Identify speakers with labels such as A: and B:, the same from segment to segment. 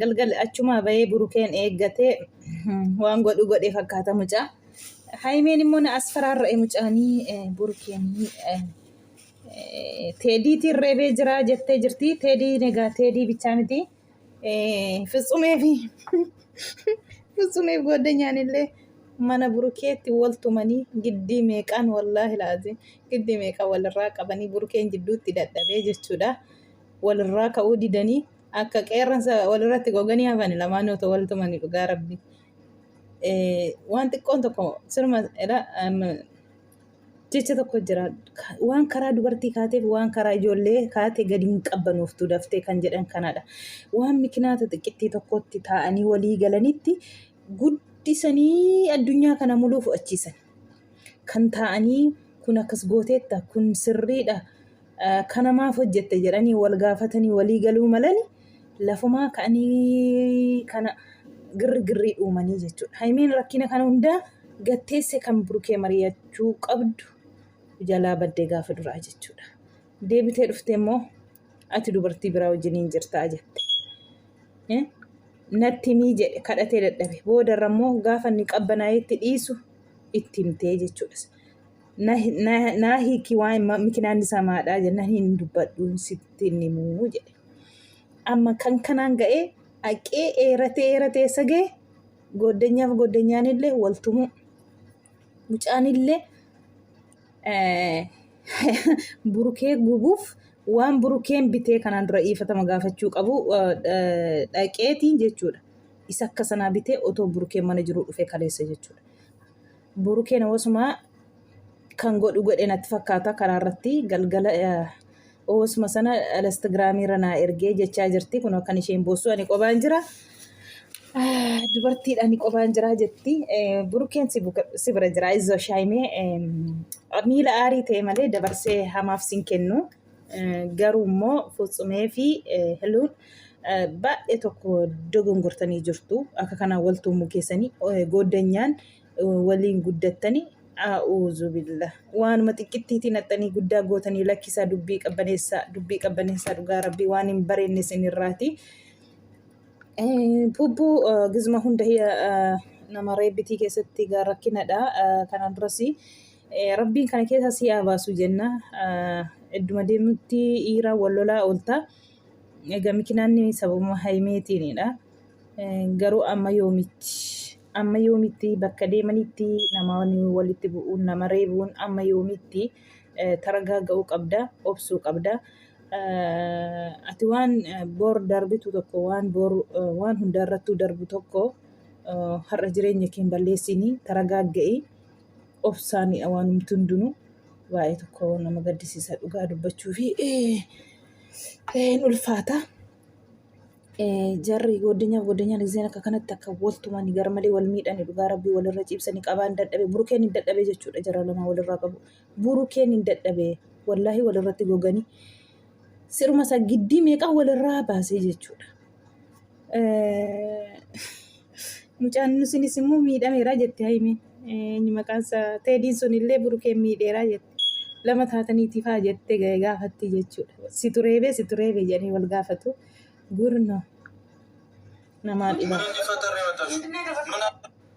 A: Galgal achumaa bahee burukeen eeggate waan godhu godhe fakkaata mucaa. Haymeen immoo na as faraarra'e mucaanii burukeen teediitiin reebee jiraa jettee jirti. Teedii egaa teedii bichaa miti. Fitsumee fi fitsumeef goodanyaan illee mana burukeetti wal tumanii giddii meeqaan wallaahi laaziin giddii meeqaan walirraa qabanii burukeen jidduutti dadhabee jechuudha. Walirraa ka'uu didanii. akka qeerransa walirratti goganii hafani lamaan otoo wal tumani dhugaa rabbi waan xiqqoon tokko sirma jecha tokko jira waan karaa dubartii kaateef waan karaa ijoollee kaate gadi hin qabbanooftu daftee kan jedhan kanadha waan mikinaata xiqqittii tokkotti taa'anii walii galanitti guddisanii addunyaa kana muluu fudhachiisan kan taa'anii kun akkas gooteetta kun sirriidha kana maaf hojjette jedhanii wal gaafatanii walii galuu malani lafumaa ka'anii kana girri girrii uumanii jechuudha. Haymeen rakkina kana hundaa gatteesse kan burkee mari'achuu qabdu jalaa baddee gaafa duraa jechuudha. Deebitee dhufte immoo ati dubartii biraa wajjiniin jirtaa jette. Natti himii jedhe kadhatee dadhabe boodarra immoo gaafa inni qabbanaa'eetti dhiisu itti himtee jechuudha. naa hiiki waan mikinaan isaa maadhaa jennaan hin dubbadhu sitti hin himuu jedhe. Amma kan kanaan ga'ee haqee eeratee eeratee eessa ga'e goddanyaaf goddanyaan illee wal tumuu. Mucaan illee burukee gubuuf waan burukeen bitee kanaan dura dhiifatama gaafachuu qabu dhaqeetiin jechuudha. Isa akka sanaa bitee otoo burukeen mana jiruu dhufee kaleessa jechuudha. Burukeen oosuma kan godhu godhe natti fakkaata karaa irratti galgala oosuma sana instagiraamii irra naa ergee jechaa jirti kun kan isheen boossu ani qobaan jira dubartiidha ani qobaan jira jetti burukeen si bira jira izo shaayimee miila aarii ta'e malee dabarsee hamaaf sin kennu garuu immoo futsumee fi hiluun baay'ee tokko dogongortanii jirtu akka kanaan waltuumuu keessanii gooddanyaan waliin guddattanii A'uuzubillah. Waanuma xiqqittiitiin haxxanii guddaa gootanii lakkisaa dubbii qabbaneessaa dubbii qabbaneessaa dhugaa rabbii waan hin bareenne isinirraati. Pubbuu gizma hunda nama reebbitii keessatti gaa rakkinadha. Kana duras rabbiin kana keessa si haa baasu jenna. Idduma deemutti dhiiraa wal lolaa oolta. Egaa mikinaanni sababuma hayimeetiinidha. Garuu amma yoomitti amma yoomitti bakka deemanitti namoonni walitti bu'uun nama reebuun amma yoomitti taragaaga'uu qabda obsuu qabda. Ati waan bor darbitu tokko waan bor waan hundarrattuu darbu tokko har'a jireenya kee hin balleessini taragaagga'i. obsaani waanumti hundinuu baay'ee tokko nama gaddisiisa dhugaa dubbachuu fi hin ulfaata. Jarri godinyaa godinyaa lizeen akka kanatti akka waltumani gara malee wal miidhani dhugaa rabbii walirra ciibsani qabaan dadhabe burukeen hin dadhabe jechuudha jara lama walirraa qabu burukeen hin dadhabe wallaahi walirratti gogani Siruma isaa giddii meeqaa walirraa baasee jechuudha. Mucaan sunis immoo miidhameera jette Hayimiin. Inni maqaan isaa Teediin sun illee Burukeen miidheera jette. Lama taataniitiif haa jette gaafatti jechuudha. Si tureebee si tureebee jedhanii wal gaafatu. Gurno namaa dhibaa.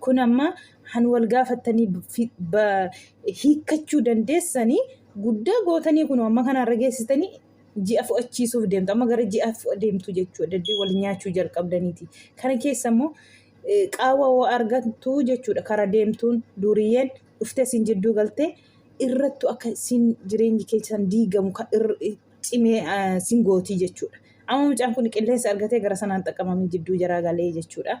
A: Kun amma han wal gaafattanii hiikkachuu dandeessanii guddaa gootanii kun amma kanarra geessitanii ji'a fo'achiisuuf deemtu. Amma gara ji'a fo'a deemtu jechuudha. Daddee wal nyaachuu jalqabdaniiti. Kana keessa immoo qaawwa hoo argattu jechuudha. Kara deemtuun duriyyeen dhuftee isin jidduu galtee irrattu akka isin jireenyi keessan diigamu cimee isin gootii jechuudha. Amma mucaan kun qilleensa argatee gara sanaan xaqqamamee jidduu jaraa galee jechuudha.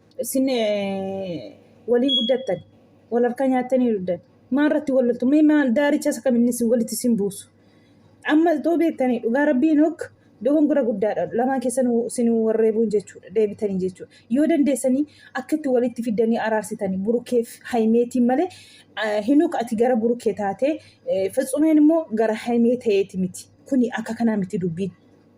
A: isin waliin guddattan wal harkaa nyaattanii duddan maal irratti wal loltu mee maal daaricha isa kam inni isin walitti isin buusu amma itoo beektanii dhugaa rabbii nook dogongora guddaadha lamaa keessan isin warreebuun jechuudha deebitanii jechuudha yoo dandeessanii akka itti walitti fiddanii araarsitanii burukeef haimeetiin malee hinuuk ati gara burukee taatee fitsumeen immoo gara haimee ta'eeti miti kuni akka kanaa miti dubbiin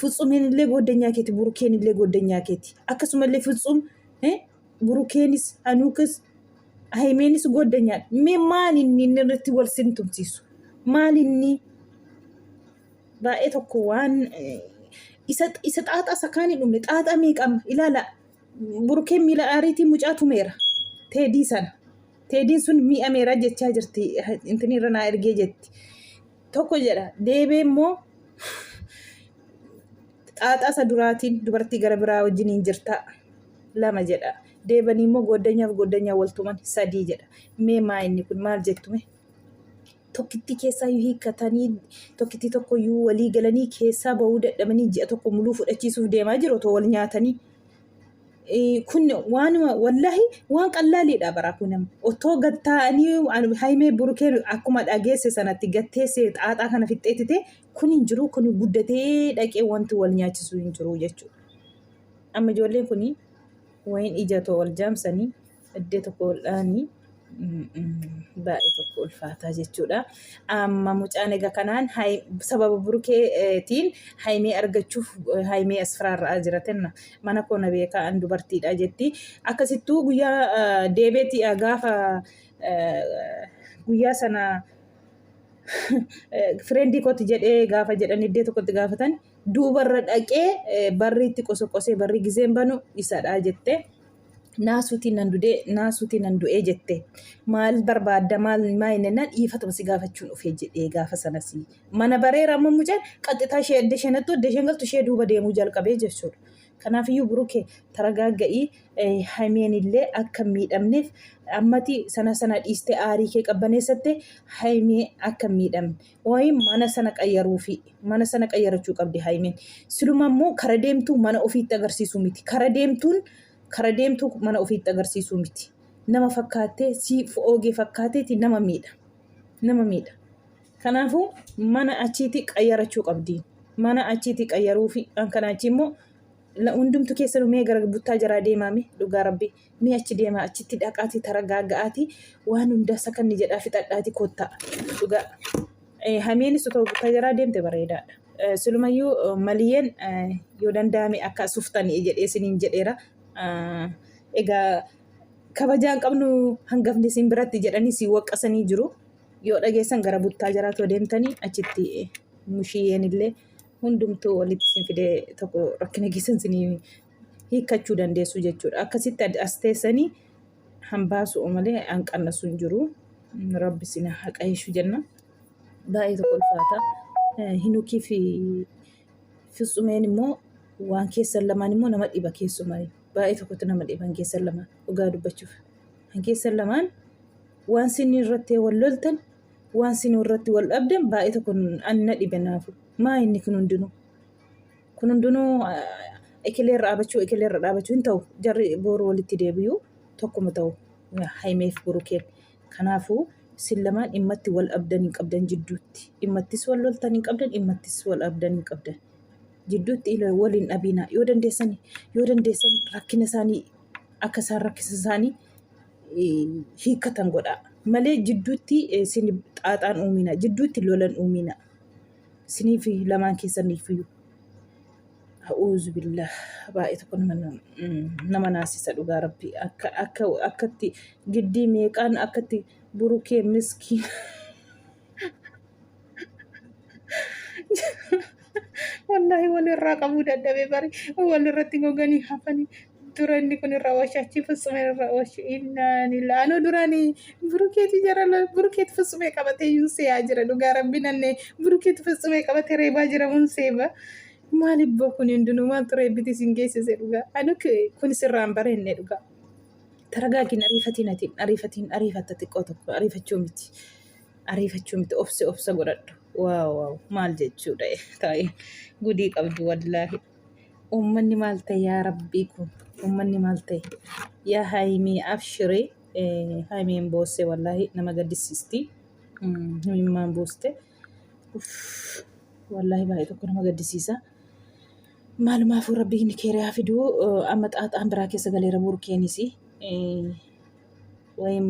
A: Fitsumiin illee gooddanyaa keeti. Burukeen illee gooddanyaa keeti. Akkasuma illee fitsum burukeenis hanuukas haymeenis gooddanyaa. Mee maal inni inni irratti wal simtumsiisu? Maal inni baay'ee tokko waan isa isa xaaxaa isa kaan hin dhumne xaaxaa meeqama ilaala burukeen miila aariitii mucaa tumeera teedii sana teediin sun mi'ameera jechaa jirti intinirra naa ergee jetti Tokko jedha. Deebee immoo xaaxaa isa duraatiin dubartii gara biraa wajjiniin jirtaa. Lama jedha. Deebanii immoo gooddanyaaf gooddanyaa wal tuman sadii jedha. Mee maa inni kun maal jettume? Tokkittii keessaa yoo hiikkatanii tokkittii tokko yoo walii galanii keessaa bahuu dadhabanii ji'a tokko muluu fudhachiisuuf deemaa jiru otoo wal nyaatanii. kun waan wallahi waan qallaaliidha bara kun otoo gad taa'anii haymee burukeen akkuma dhageesse sanatti gatteesse xaaxaa kana fixxeettite kun hin jiru kun guddatee dhaqee wanti wal nyaachisu hin jiru jechuudha. Amma ijoolleen kun wayin ija too wal jaamsanii Iddoo tokko ol'aanii baay'ee tokko ulfaataa jechuudha. Amma mucaan egaa kanaan sababa burkeetiin haymee argachuuf haymee asfiraarraa jiratenna mana koo na beekaa an dubartiidha jetti. Akkasittuu guyyaa deebeetii gaafa guyyaa sana fireendii kooti jedhee gaafa jedhan iddoo tokkotti gaafatan duubarra dhaqee barri itti qosoqosee barri gizeen banu isadha jette. naasuutiin nan dudee naasuutiin nan du'ee jette maal barbaadda maal maa inni nan dhiifatama si gaafachuun dhufee jedhee gaafa sanas mana bareera amma mucaan qaxxitaa ishee adda isheen hattu adda isheen galtu ishee duuba deemuu jalqabee jechuudha. Kanaafiyyuu burukee taragaagga'ii haymeen illee akka miidhamneef ammati sana sana dhiistee aarii kee qabbaneessatte haymee akka miidhamne Qoyi mana sana qayyaruufi mana sana qayyarachuu qabdi Hayimin. Siluma immoo kara deemtuu mana ofiitti agarsiisuu miti. Kara deemtuun kara deemtuu mana ofiitti agarsiisuu miti. Nama fakkaattee si oogee fakkaateeti nama miidha. Nama miidha. Kanaafuu mana achiitii qayyarachuu qabdi. Mana achiitii qayyaruufi kan kana achii immoo la- hundumtu keessanuu mee gara buttaa jaraa deemaame dhugaa rabbi. Mee achi deemaa achitti dhaqaatii taragaaga'aatii waan hundaa sakanni jedhaa fixadhaatii kottaa. Dhugaa. Eh, Hameenis otoo buttajaraa deemte bareedaadha. Eh, Silumayyuu eh, maliyeen eh, yoo danda'ame akka asuftanii jedhee isiniin jedheera. Eh, Egaa kabajaan qabnu hangafni isin biratti jedhanii si waqqasanii jiru. Yoo dhageessan gara buttaa jaraa too deemtanii achitti eh, mushiyyeen illee hundumtuu walitti isin fidee tokko rakkina keessan isinii hiikkachuu dandeessu jechuudha. Akkasitti ad- as teessanii hambaasu malee hanqannasu hin jiru. Rabbi isin haa qajeeshu jenna. Baay'ee tokko ulfaata. Eh, Hinukii fi Fitsumeen immoo waan keessan lamaan immoo nama dhiba keessumaa. Baay'ee tokkotti nama dhiba hin keessan lamaan dhugaa dubbachuuf. Hin keessan lamaan waan isin irratti wal loltan waan isin irratti wal dhabdan baay'ee tokko an na dhibe naafu. Maa inni kun hundinuu? Kun hundinuu ekilee irra dhaabachuu ekilee irra dhaabachuu hin ta'u. Jarri boru walitti deebi'u tokkuma ta'u Hayimeef Burukeen. Kanaafuu isin lamaan dhimmatti wal dhabdan hin qabdan jidduutti. Dhimmattis wal loltan hin qabdan dhimmattis wal dhabdan hin qabdan. Jidduutti ila- wal hin dhabiina. Yoo dandeessan yoo dandeessan rakkina isaanii akka isaan rakkisa isaanii eh, hiikkatan godhaa. Malee jidduutti eh, isin xaaxaan uumina. Jidduutti lolan uumina. Isinii fi lamaan keessaniif iyyuu. Ha'uuzu billah baay'ee tokko nama nama naasisa dhugaa rabbi akka akka akkatti giddii meeqaan akkatti burukee miskiin wallaahi walirraa qabuu dadhabee bari walirratti goganii hafanii dura inni kun irra ooshe achi fitsuma irra ooshe innaan ila anuu duraani burukeeti jarala burukeeti fitsumee qabatee yuun seeyaa jira dhugaa rabbi nanne burukeeti fitsumee qabatee reebaa jira mun seeba maali boo kun hundinuu maaltu reebbiti isin geessise dhugaa anuu kun sirraan bareenne dhugaa taragaagiin ariifatiin ati ariifatiin ariifatta xiqqoo tokko ariifachuu miti ariifachuu miti obsi obsa godhadhu waaw waaw maal jechuudha taa'e gudii qabdu wallaahi Uummanni maal ta'e yaa rabbii kun uummanni maal ta'e yaa haayimii abshiree haayimeen boosse wallaahi nama gaddisiisti himimmaan booste wallaahi baay'ee tokko nama gaddisiisa maalumaafuu rabbiin keeriyaa fiduu amma xaaxaan biraa keessa galeera buurkeenis wayim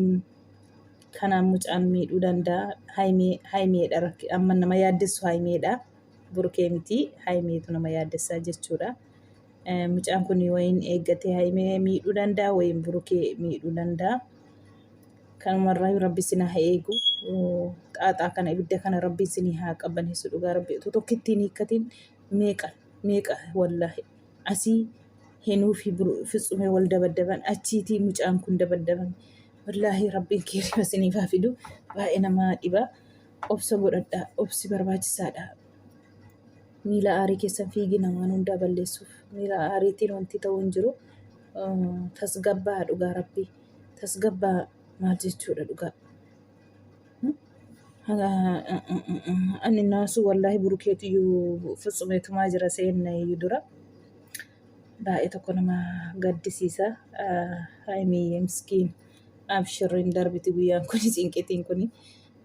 A: kanaan mucaan miidhuu danda'a haayimeedha amma nama yaaddessu haayimeedha. burkee mitii haayimeetu nama yaaddessaa jechuudha. Mucaan kun wayiin eeggatee haayimee miidhuu danda'a wayiin burkee miidhuu danda'a. Kanumarraa rabbi isin haa eegu. Xaaxaa kana ibidda kana rabbi isin haa qabbaneessu dhugaa rabbi utuu tokko ittiin hiikkatiin meeqa meeqa wallaahi asii hinuu fi fitsumee wal dabaddaban achiitii mucaan kun dabaddaban wallaahi rabbiin keeriba isiniif haa fidu baay'ee nama dhiba. Obsa godhadhaa. Obsi barbaachisaadha. Miila aarii keessan fiigina waan hundaa balleessuuf. Miila aariitiin wanti ta'u hin jiru. Tasgabbaa dhugaa rabbii. Tasgabbaa maal jechuudha dhugaa. Ani naasuu wallaahi burukeetu iyyuu fitsumeetumaa jira seenna iyyuu dura. Baay'ee tokko nama gaddisiisa. Haayimiyyee miskiin. Abshirriin darbiti guyyaan kuni cinqitiin kuni.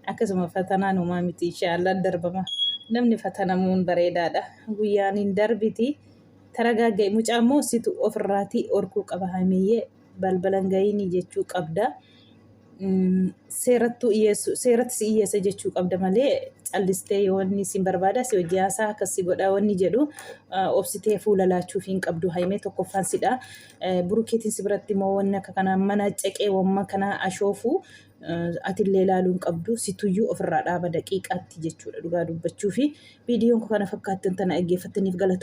A: Akkasuma fatanaan homaa miti inshaallaan darbama. Namni fatanamuun bareedaadha. Guyyaan hin darbiti. Taragaagga'i mucaa immoo situ ofirraatii orkuu qaba hamiyyee balbalan ga'inii jechuu qabda. Mm, Seerattuu dhiyeessu seeratti si dhiyeessa jechuu qabda malee callistee yoo inni sin barbaada si hojii haasaa akkas si godha wanni jedhu ah, obsitee fuula laachuuf hin qabdu haimee tokkoffaan sidha. Eh, Burukeetiin si biratti immoo wanni akka kanaa mana ceqee wamma kanaa ashoofuu atillee ilaaluu hin qabdu situyyuu ofirraa dhaaba daqiiqaatti jechuudha dhugaa dubbachuu fi viidiyoon kana fakkaattan tana dhaggeeffattaniif galatooma.